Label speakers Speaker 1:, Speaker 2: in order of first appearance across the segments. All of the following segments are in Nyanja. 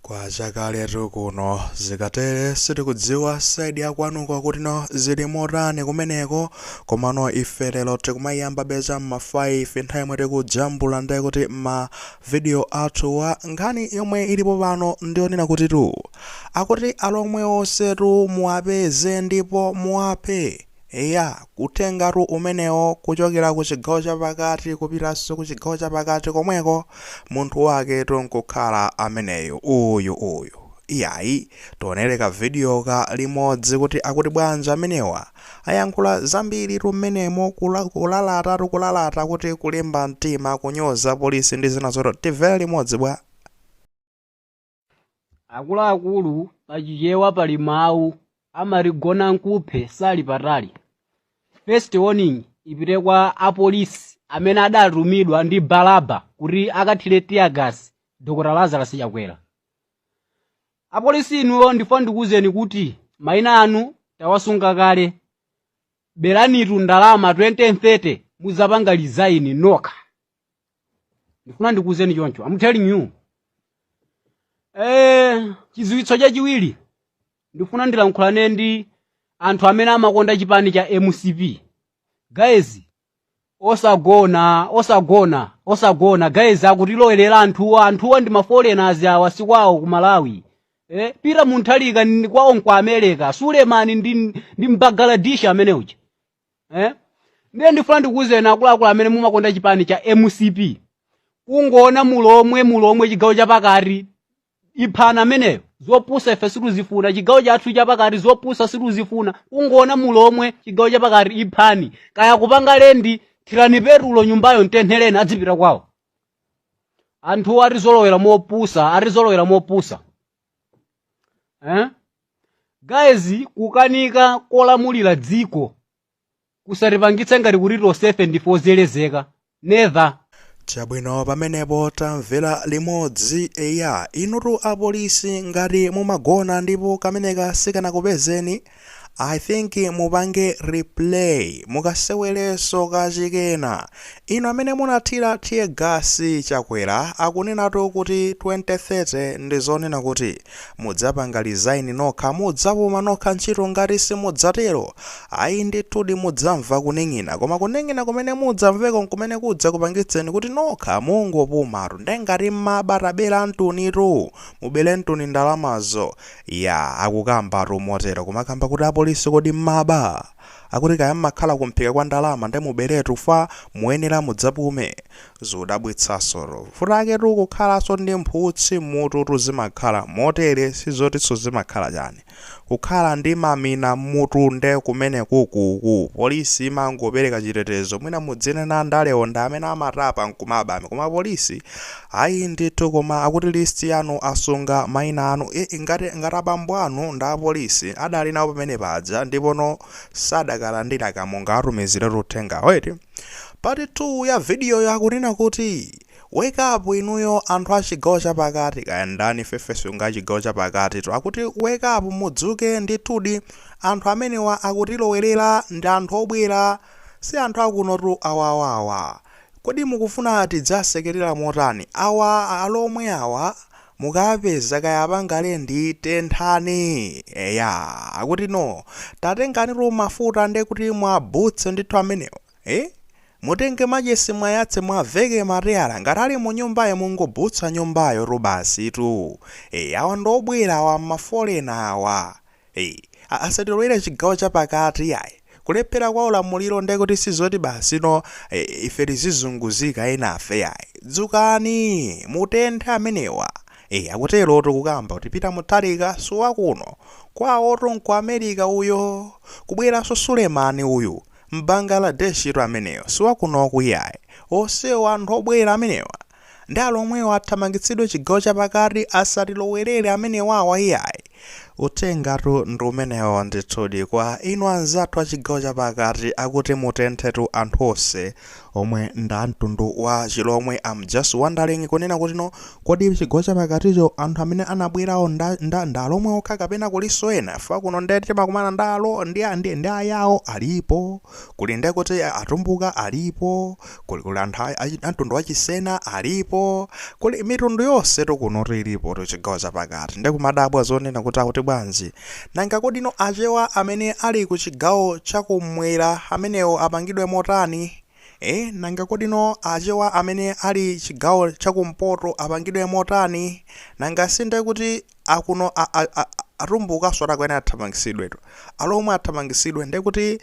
Speaker 1: Kwachakaletu kuno. Zikatere sitikudziwa side yakwanuko kuti no zili motani kumeneko komano ife lero tikumayambabe cha m'ma 5 nthawi yomwe tikujambula ndiye kuti ma video athuwa nkhani yomwe ilipo pano ndiyonena kutitu akuti alomwe onsetu muwapeze ndipo muwaphe. Eya, uthengatu umenewo, kuchokera ku chigawo chapakati kupitanso ku chigawo chapakati komweko, munthu waketu nkukhala ameneyo, uyu, uyu. Iyayi, tionere kavidiyoka limodzi kuti akuti bwanji amenewa. Ayankhula zambiritu m'menemo, kulalatatu kulalata kuti kulimba mtima, kunyoza apolisi ndi zina zotero. Tivere limodzi bwa?
Speaker 2: akuluakulu pa chichewa pali mawu amati gona nkuphe sali patali first warning ipite kwa apolisi amene adatumidwa ndi balaba kuti akathire tiyagasi dr lazarus chakwera apolisi inuyo ndifuna ndikuwuzeni kuti mayina anu tawasunga kale beranitu ndalama 2030 muzapanga lizaini nokha ndifuna ndikuwuzeni choncho am telling you eh chidziwitso chachiwiri ndifuna ndilankhulane ndi anthu amene amakonda chipani cha mcp guys osagona osagona osagona guys akutilowerera anthuwa anthuwa ndi maforeigners awa sikwawo ku malawi eh, pita muthalika ni kwawo nku america sulemani ndi, ndi mbagaladishi amene uja eh? ndiye ndifuna ndikuwuzeni akuluakulu amene mumakonda chipani cha mcp kungoona mulomwe mulomwe chigawo chapakati iphani ameneyo zopusa ife situzifuna chigawo chathu chapakati zopusa situzifuna kungoona mulomwe chigawo chapakati iphani kaya akupanga lendi thirani petulo nyumbayo mtenthereni adzipita kwawo anthuwa atizolowera mopusa atizolowera mopusa eh? guys kukanika kulamulira dziko kusatipangitse ngati kuti tonsefe ndife ozelezeka never
Speaker 1: chabwino pamenepo tamvera limodzi eya inutu apolisi ngati mumagona ndipo kameneka sikanakupezeni I think mupange replay mukasewelenso kachikena inu amene munathira tear gas chakwera akunenatu kuti 2030 ndizonena kuti mudzapanga resign nokha mudzapuma nokha ntchito ngati simudzatero ayi ndithudi mudzamva kuning'ina koma kuning'ina kumene mudzamveko nkumene kudzakupangitseni kuti nokha mungopumatu nde ngati mumaba taberani mtunitu mubere mtuni ndalamazo Yaa akukamba tu motero kumakamba kuti apolisi kodi mmaba? Akuti kaya mmakhala ku mphika kwa ndalama nde muberetu fwa muyenera mudzapume. Zodabwitsaso tu. Vuto lake tu kukhalaso ndi mphutsi mmutu tu zimakhala motere sizotiso zimakhala chani. Kukhala ndi mamina mmutu nde kumenekuku polisi imangopereka chitetezo mwina mudzinena andalewo ndi amene amatapa nkumaba koma polisi Ayi ndithu koma akuti list yanu asunga maina anu iih ngati ngati abambo anu ndi apolisi adali nawo pamene paja ndipono sadakalandira ka mungawatumiziretu uthengawo eti? Part 2 ya vidiyoyo akunena kuti Wake up inuyo anthu achigawo chapakati kaya ndani ifefe sunga achigawo chapakatitu akuti wake up mudzuke ndithudi anthu amenewa akutilowelera ndi anthu obwera si anthu akunotu awawawa. Kodi mukufuna tidzasekelera motani? Awa alomwe awa mukawapeza kaya apanga lendi tenthani eya akuti no tatengani tu mafuta nde kuti mwabutse ndithu amenewa eh? Mutenge machesi mwayatse mwaveke mateyala ngati ali munyumbayo mungobutsa nyumbayo tu basi tu eh, awa ndobwera awa mafolena awa. Eee asatilowere chigawo chapakati iyayi kulephera kwa ulamuliro nde kuti sizoti basi no ee ife tizizunguzika enafe iyayi dzukani mutenthe amenewa ee akuterotu kukamba kuti Peter Mutharika siwakuno kwawotu nku America uyo kubweranso Suleman uyu Mbangaladeshitu ameneyo siwakunoku iyayi onsewo anthu obwera amenewa Nde alomwewo athamangitsidwe chigawo chapakati asatilowelere amenewawa iyayi. Uthengatu ndi umenewo ndithudi kwa inu anzathu a chigawo chapakati akuti mutenthetu anthu onse omwe ndi a mtundu wa chilomwe I'm just wondering kunena kuti no kodi chigawo chapakaticho anthu amene anabwerawo nda nda ndi alomwe okha kapena kulinso ena chifukwa kuno nde timakumana ndi alo ndi ndi ndi ayao alipo kuli nde kuti atumbuka alipo Kuli kuli anthu a a a mtundu wa Chisena alipo, kuli mitundu yonsetu kunotu ilipotu chigawo chapakati. Nde kumadabwa zonena kuti akuti bwanji. Nanga kodino Achewa amene ali ku chigawo cha kumwera amenewo apangidwe motani? Eh? Nanga kodino Achewa amene ali chigawo cha kumpoto apangidwe motani? Nanga si nde kuti akuno a, a, a, atumbukaso atakuyenera athamangitsidwetu alomwe athamangitsidwe nde kuti eh,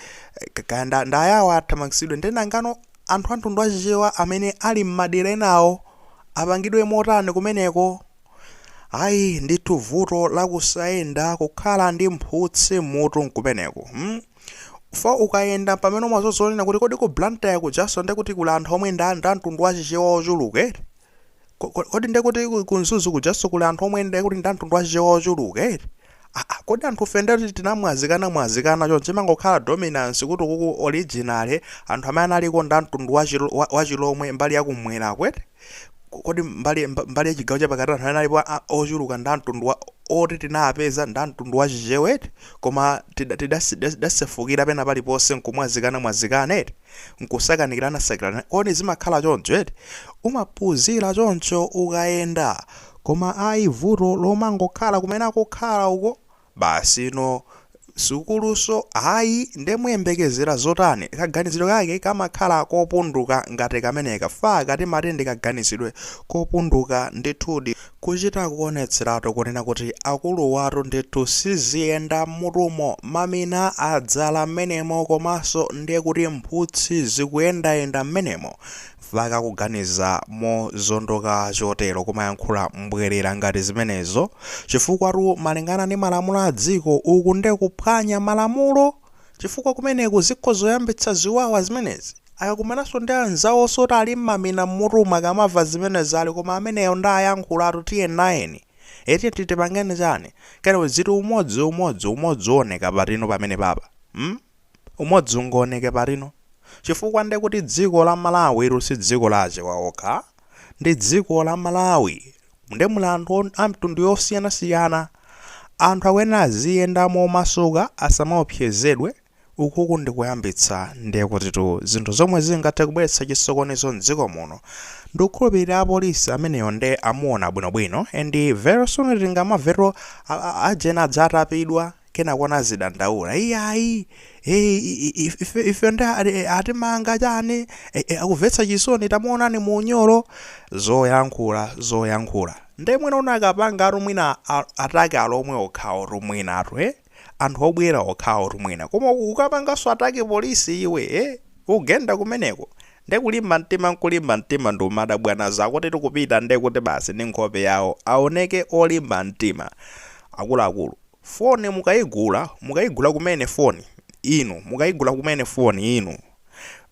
Speaker 1: ka- kaya nda- ndayawo athamangitsidwe nde nangano anthu a mtundu wachichewa amene ali m'madera enawo apangidwe motani kumeneko ayi ndithu vuto lakusayenda kukhala ndi mphutsi mutu nkumeneko hmm? fa ukayenda pamene umazozonena kuti kodi ku Blantyre kujaso nde kuti kuli anthu omwe nda nda mtundu wachichewa ochuluka Ko- ko- Kodi ndiye kuti ku- ku Mzuzu kujanso kuli anthu omwe ndiye kuti ndi amtundu wachichewa ochuluka eti? Ah, ah, Kodi anthu fe ndiye kuti tinamwazikana mwazikana choncho imangokhala dominance kuti kuku originally anthu amene analiko ndi amtundu wachilo- wa- wachilomwe mbali yakumwera uku eti? Ko- Kodi mbali mba- mbali yachigawo chapakati anthu amene alipo a- ochuluka ndi amtundu wa oti tinapeza ndi amtundu wachichewa eti? Koma tida- tidasi- tidasefukira pena paliponse nkumwazikana mwazikana nkusakanikirana sakanikirana kodi zimakhala choncho eti umaphunzira choncho ukayenda koma ayi vuto lomangokhala kumene akukhala uko basi no sukuluso ayi nde muyembekezera zotani kaganizidwe kake kamakhala kopunduka ngati kameneka ife timati ndi kaganizidwe kopunduka ndithudi Kuchita kuonetseratu kunena kuti akuluwatu ndithu siziyenda mmutumo, mamina adzala mmenemo komanso ndiye kuti mphutsi zikuyendayenda mmenemo mpaka kuganiza mozondoka chotero kumayankhula mbwerera ngati zimenezo chifukwatu malingana ndi malamulo a dziko uku nde kuphwanya malamulo chifukwa kumeneku zikhoza kuyambitsa ziwawa zimenezi. Akakumananso ndi anzawonso woti ali mmamina mmutumu akamava zimenezi ali koma ameneyo nde ayankhulatu tiye nayeni ee eti timpangeni chani kenako zizoti umodzi umodzi umodzi uwoneke patino pamenepapa mm umodzi ungowoneke patino chifukwa ndekuti dziko la malawi ili si dziko la achewa okha ndi dziko la malawi nde muli anthu amitundu yosiyanasiyana anthu akuyenera aziyenda momasuka asamaopsezedwe Ukuku ndi kuyambitsa ndiye kutitu zinthu zomwe zingathe kubweretsa chisokonezo mdziko muno. Ndikukhulupilira apolisi ameneyo nde amuona bwino bwino and very soon tingamamvetu a a a ujeni adzatapidwa kenako naye azidandaula iyayi ee ife ife ife nde a e atimanga chani e e akuvetsa chisoni tamuonani mu unyolo zoyankhula zoyankhula nde mwina unakapanga attack mwina a attack alomwe okhawotu mwinatu ee. anthu obwera okhawotu mwina koma ukapanganso attack polisi iwe eh? ukugenda kumeneko nde kulimba mtima nkulimba mtima ndi madabwana zako zoti kupita nde kuti basi ndi nkhope yawo aoneke olimba mtima akuluakulu foni mukaigula mukaigula kumene foni inu mukaigula kumene foni inu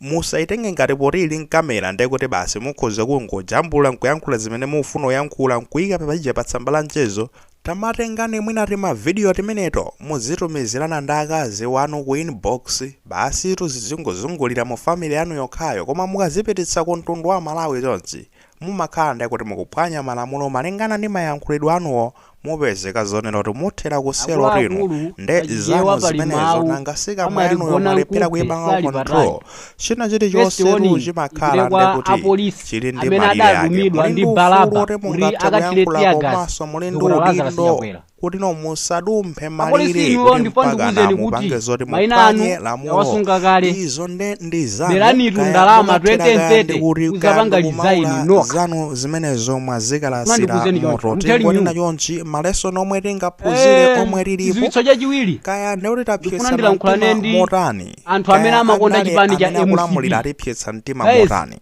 Speaker 1: Musaitenge ngati poti ili ndi kamera ndekuti basi mukhoza kungojambula nkuyankhula zimene mufuna uyankhula nkuika paja pa tsamba la mchezo, tamatengani mwina tima video timeneti muzitumizirana ndi akazi wanu ku inbox basitu tizingozungulira mu family yanu yokhayo koma mukazipititsa ku mtundu wa Amalawi chonchi mumakhala ndiye kuti mukuphwanya malamulo malingana ndi mayankhulidwe anuwo mupezeka zonena kuti muthera ku selo atu inu Akuluakulu nde pa Chichewa zanu pali zimenezo mawu nanga si kamwa amati yanuyo gona mwalephera nkuphe kuipanga sali control patali. china First chilichonse tu warning chimakhala ipite kwa ndekuti apolisi chili ndi amene malire ake adatumidwa muli ndi ndi ufulu balaba kuti kuti mungathe akathire kuyankhula tear gas komanso muli ndi dzukuta Lazarus udindo Chakwera. kuti no musadumphe Apolisi malire inuyo kuti ndipo mpaka ndikuwuzeni kuti mupange zoti maina anu muphwanye lamulo yawasunga kale. izo nde ndi zanu Beranitu kaya ndalama mumathera kaya 2030 ndi kuti uzapanga kaya design ndikumaula nokha. zanu zimenezo mwazikalasira Mandikuwuzeni choncho. moto I'm telling tingonena you. chonchi ma lesson omwe tingaphunzire Eh, omwe lilipo chidziwitso chachiwiri kaya ndikuti Ndikufuna tapyetsa ndilankhulane mtima ndi motani anthu amene Kaya amakonda
Speaker 2: andale chipani cha amene akulamulira MCP. atipyetsa
Speaker 1: mtima Guys, motani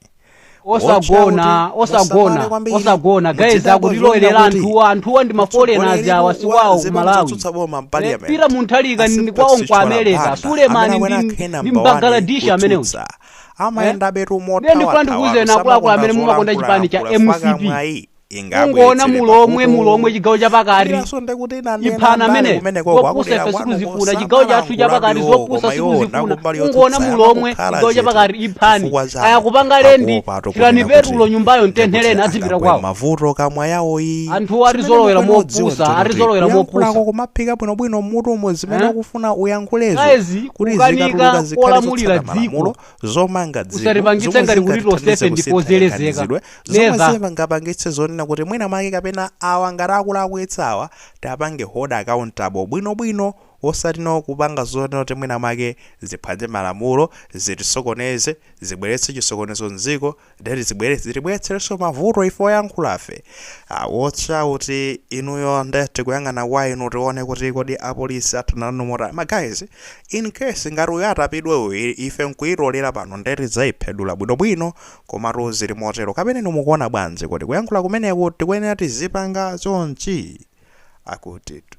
Speaker 1: osagona
Speaker 2: osagona osagona guys akutilowerera anthuwa anthuwa ndi maforeigners awa sikwawo ku malawi peter mutharika ndi kwawo ku america sulemani ndi- ndi mbangladeshi amenewo amayenda betu Ndiye
Speaker 1: ndikufuna
Speaker 2: ndikuwuzeni akuluakulu amene mumakonda chipani cha mcp ungoona mulomwe mulomwe chigawo chapakati iphani amene zopusa ife sikuzifuna chigawo chathu chapakati zopusa sikuzifuna ungoona mulomwe chigawo chapakati iphani kaya akupanga lendi thirani petulo nyumbayo mtenthereni adzipita kwawo mavuto kamwa
Speaker 1: yawo iyi anthu
Speaker 2: atizolowera mopusa atizolowera mopusa kumaphika bwinobwino
Speaker 1: mmutumo zimene Eh? ukufuna uyankhulezo Guys, kuti kukanika zikatuluka
Speaker 2: zikhale kulamulira zotsata dziko. malamulo zomanga
Speaker 1: dziko Usatipangitse zomwe ngati kuti
Speaker 2: zingatithandize tonsefe kusintha ndi ozelezeka. kaganizidwe,
Speaker 1: zomwe Neza. zingapangitse zonena kuti mwina mwake kapena awa ngati akulakwitsa awa tiwapange hold accountable bwinobwino osati no kupanga zonena kuti mwina mwake ziphwanye malamulo zitisokoneze zibweretse chisokonezo mdziko deti zibwere zitibweretserenso mavuto ife oyankhulafe Ah, watch out inuyo nde tikuyang'ana kwa inu tione kuti kodi apolisi athana nawo mota ma guys in case ngati uyo atapidwe uyu i- ife nkuyitolera pano nde tidzayiphedula bwinobwino komatu zili motero kapena inu mukuona bwanji kodi kuyankhula kumeneku tikuyenera tizipanga chonchi akutitu